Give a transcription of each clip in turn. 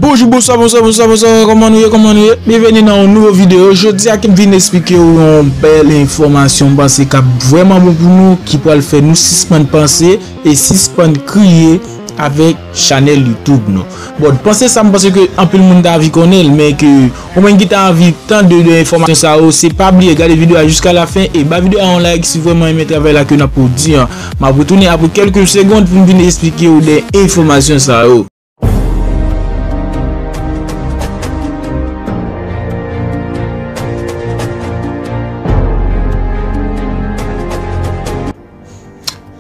Bonjou, bonswa, bonswa, bonswa, bonswa, kòman nou ye, kòman nou ye, biye veni nan yon nouvo videyo, jodi a kem vin esplike ou yon bel enfomasyon mwen panse kap vweman bon pou nou, ki pwal fè nou sispan panse, e sispan kriye avèk chanel youtube nou, bon panse sa mwen panse ke anpil moun ta avi konnen, men ke. Ou menm ki ta anvi tande de enfòmasyon sa yo se pa bliye gade video a jiska la fen e ba video a yon like si vrèman renmen travay la ke nap pwodi an. Map retounen apre kelke segond poum vin esplike ou de enfòmasyon sa yo.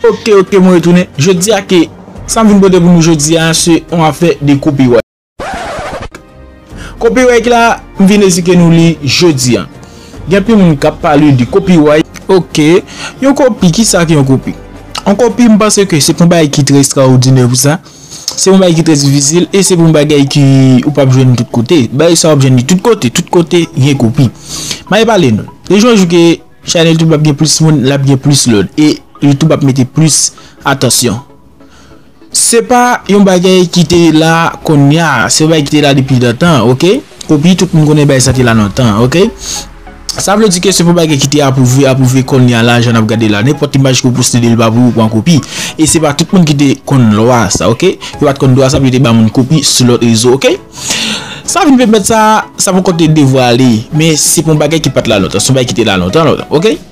Ok ok mwen retounen. Jodi a ke sam vin pote pou nou jodi a se yon afè de copyright. Copyright la m vin ezike nou li jodi an. Gen anpil moun kap pale de copyright. Ok. Yon kopi, kisa ki yon kopi? Yon kopi m panse ke se pa yon bagay ki trè estraodinè pou sa. Se yon bagay ki trè difisil e se yon bagay ki ou pap jwenn tout kote. Bagay sa wap jwenn li tout kote. Tout kote gen kopi. M'ale pale nou. Le jou an jou ke chanèl YouTube ap gen plis moun, lap gen plis lòd e YouTube ap mete plis atansyon. Se pa yon bagay ki te la konnya, se yon bagay ki te la depi lontan ok, epi tout moun konnen bagay sa te la lontan ok. Sa vle di ke se pa yon bagay ki te apwouve, apwouve konnya la jan nap gade la. Nenpòt imaj ke ou poste li pa pou ou pran kopi. E se pa tout moun ki te konn lwa sa ok. Yo pat konn dwa sa pou yo te ba moun kopi sou lòt rezo ok. Sa vin pèmèt sa, sa poko te devwale men se pa yon bagay ki pat la lontan, se yon bagay ki te la lontan lontan ok.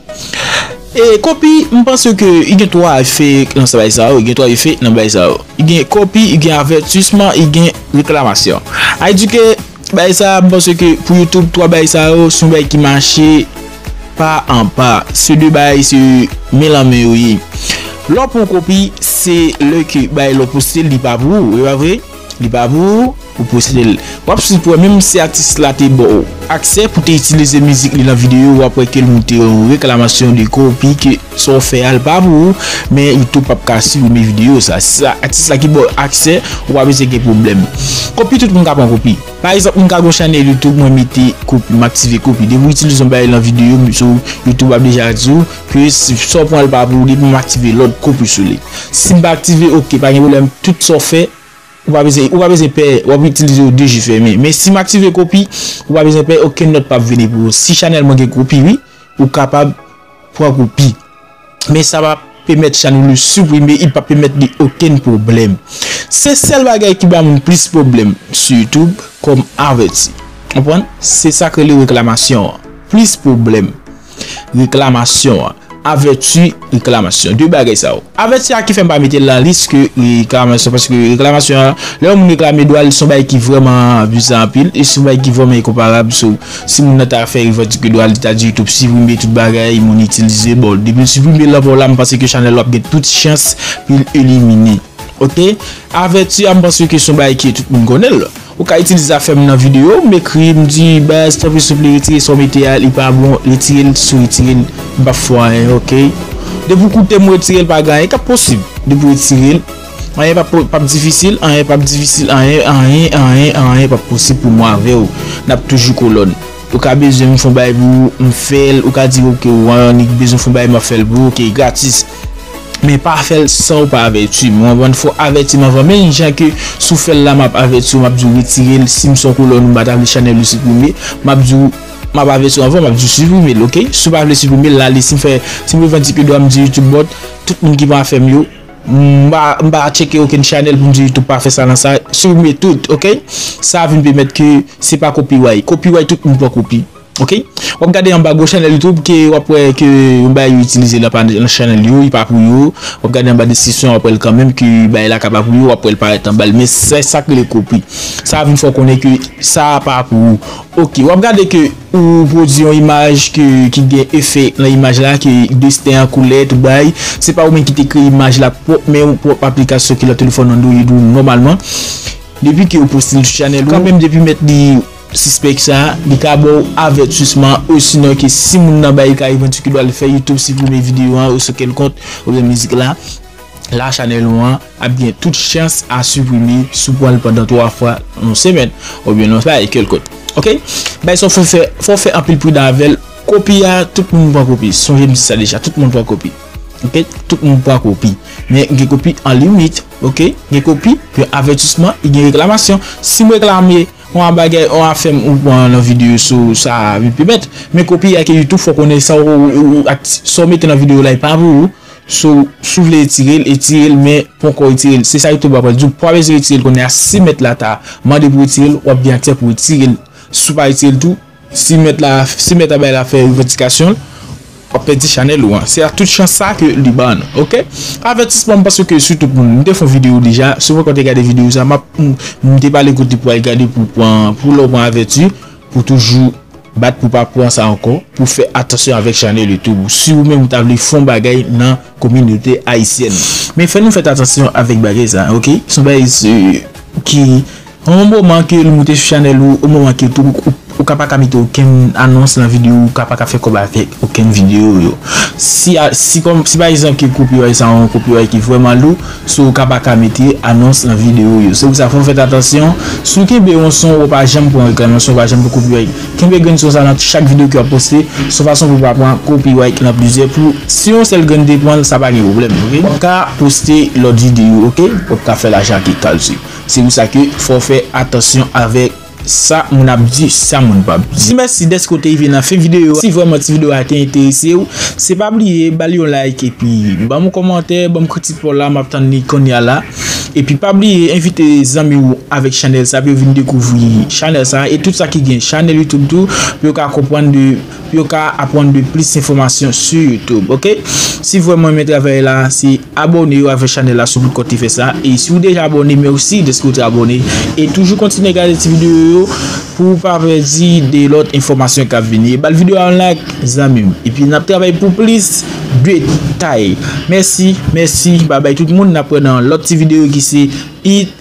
E kopi m panse ke i gen 3 efe nan sa bay sa yo, i gen 3 efe nan bay sa yo. I gen kopi, i gen avètisman, i gen reklamasyon. A di ke bay sa m panse ke pou YouTube 3 bay sa yo son bay ki mache pa an pa. Se 2 bay se men lan men yo ye. Lè w pran kopi se lè ke bay la w poste li pa pou ou, e pa vre? Li pa pou ou pou posede l. Wap swiv pou wè menm si atis la te baw aksè pou te itilize mizik li nan videyo wap wè kel moute yon reklamasyon de kopi ke sa w fè a l pa pou ou men youtube pap ka siprime videyo sa si se atis la ki baw aksè ou pa bezwen gen pwoblèm kopi tout moun ka pran kopi pa egzanp mwen ka gon chanèl youtube mwen mete kopi m aktive kopi depi w itilize yon bagay lan videyo m sou youtube ap deja di w Ke si sa w pran l pa pou ou depi m aktive lòt koupe sou li. Si m pa aktive ok pa gen pwoblèm tout sa w fè ou pa bezwen ou pa bezwen pè w ap itilize yo de je fèmen men si m aktive kopi ou pa bezwen pè okenn nòt p ap vini pou ou si chanèl mwen gen kopi wi ou kapab pran kopi men sa pa pèmèt chanèl ou siprime i pa pèmèt li okenn pwoblèm se sèl bagay ki ba moun plis pwoblèm sou youtube kòm avèti w konprann se sa k rele reklamasyon an plis pwoblèm. reklamasyon an. Avèti reklamasyon. De bagay sa yo. Avèti a ki fè m pa mete l nan lis ke reklamasyon paske reklamasyon an, lè yon moun reklame dwa l, se yon bagay ki vrèman bizan anpil e se yon bagay ki vrèman enkonparab. So, si moun nan ta fè revandike dwa l, li ta di YouTube siprime tout bagay, monetize. Bon, depi l siprime l anvan w la, m panse ke chanèl w ap gen tout chans pou l elimine. Ok. Avèti a m panse ke se yon bagay ke tout moun konnen l. Ou ka itilize zafem nan video, m ekri, m di baz tanpri souple retire sa w mete a li pa bon, retire l si w retire l m pap fè w anyen ok. Depi w koute m ou retire l pa gen anyen kap posib depi w retire l anyen pap difisil anyen pap difisil anyen anyen anyen anyen pap posib pou mwen avè w nap toujou kolòn ou ka bezwen m fon bagay pou ou m fè l ou ka di ok ou annik bezwen fon bagay map fè l pou ou ok gratis. Men pa fèl sanw pa avètim. Ou konprann fò avètim anvan menm jan ke sou fèl la map avètiw map diw retirel sim son kolòn ou pata vle chanèl ou siprime map diw map avètiw anvan map diw siprimel ok siw pa vle siprimel lale sim fè sim revandike dwam di youtube bòt tout moun ki pa fèm yo m pa tcheke okenn chanèl poum di youtube pa fè sa nan sa siprime tout ok sa vin pèmèt ke se pa kopiray kopiray tout moun pran kopi. Ok wap gade anba gwo chanèl youtube ke wap wè ke yon bagay yo itilize la pa nan chanèl yo li pa pou yo wap gade anba deskripsyon wap wèl kanmenm ke bagay la ka pa pou yo wap wèl parèt anbal men se sak rele kopi sa vin fè w konnen ke sa pa pou ou ok wap gade ke ou pwodui yon imaj ke ki gen efè nan imaj la ke desten an koulè tout bagay se pa ou menm ki te kreye imaj la pwòp men ou pwòp aplikasyon ki nan telefòn android ou nòmalman depi ke ou poste l sou chanèl ou kanmenm depi mèt li. Sispèk sa, li ka ba w avètisman osinon ke si moun nan bay kay vanti ki do al fè YouTube siprime videyo an oswa kèl kont oubyen mizik la, la chanèl ou an ap gen tout chans a siprime si w pran l pandan 3 fwa nan yon semèn oubyen nan sa e kèl kont. Ok. Bagay sa w fè fè, fò w fè anpil pridan avè l. Kopi a, tout moun pran kopi. Sonje m di sa deja, tout moun pran kopi. Ok. Tout moun pran kopi. Men gen kopi an limit. Ok. Gen kopi, gen avètisman e gen reklamasyon. Si m reklame. On a bagay on afèm ou pran nan video sou sa vin pi bèt, men kopi a ke youtube fò konnen sa ou ak sa ou mete nan video la e pa pou ou, so si ou vle etirel etirel men ponkò etirel se sa youtube apral diw pa bezwen etirel kounye a si mèt la ta mande pou etirel wap gen aksè pou etirel si ou pa etirel tou. Si mèt la, si mèt a bay la fè revandikasyon l, wap pèdi chanèl ou an. Se a tout chans sa ke li ban nou. Ok. Avètisman m panse ke sou tout moun. M te fon video deja. Si w poko te gade video sa map, m te pale kote pou al gade pou pran, pou lè w pran avèti, pou toujou bat pou pa pran sa ankò, pou fè atansyon avèk chanèl YouTube ou. Si ou menm ou ta vle fon bagay nan kominote ayisyèn. Men fè nou fèt atansyon avèk bagay sa. Ok. Son bagay ki Yon moman ke l moute sou chanèl ou, yon moman ke tou ou ka pa ka mete okenn anons nan video ou ka pa ka fè kòb avèk okenn video yo. Si si pa egzanp ke copyright sa yon copyright ki vrèman lou, so ou ka pa ka mete anons nan video yo. Se pou sa fòw fèt atansyon, si w kenbe yon son wap pa janm pran reklamasyon, wap pa janm pran copyright. Kenbe grenn son sa nan chak video ke wap poste, son fason pou pa pran copyright nan plizyè pou si yon sèl grenn te pranl sa pa gen pwoblèm ok. Wap ka poste lòt video ok, wap ka fè lajan ak li kalti. Se pou sa ke fò fè atansyon avèk sa moun ap di, sa moun pa p di. Mèsi dèske w te rive nan fen videyo a. Si vrèman ti videyo a te enterese w, se pa bliye ba li yon like epi ban m yon kòmantè, ban m kritik pa w la, m ap tann li konnya la. Epi pa bliye envite zanmi w avèk chanèl sa pou yo vin dekouvri chanèl sa e tout sa ki gen chanèl YouTube tou pou yo ka konprann de yo ka apwann de plis enfomasyon su youtube ok si vwèm renmen travay la si abone yo avè chanèl la su pou kòt li fè sa e si ou deja abone mèsi dèske ou te abone e toujou kontinye gade ti videyo yo pou ou pa pèdi de lòt enfomasyon kap vini e bal videyo a yon like zanmim epi nap travay pou plis detay mèsi mèsi babay tout moun nap wè nan lòt ti videyo ki se it.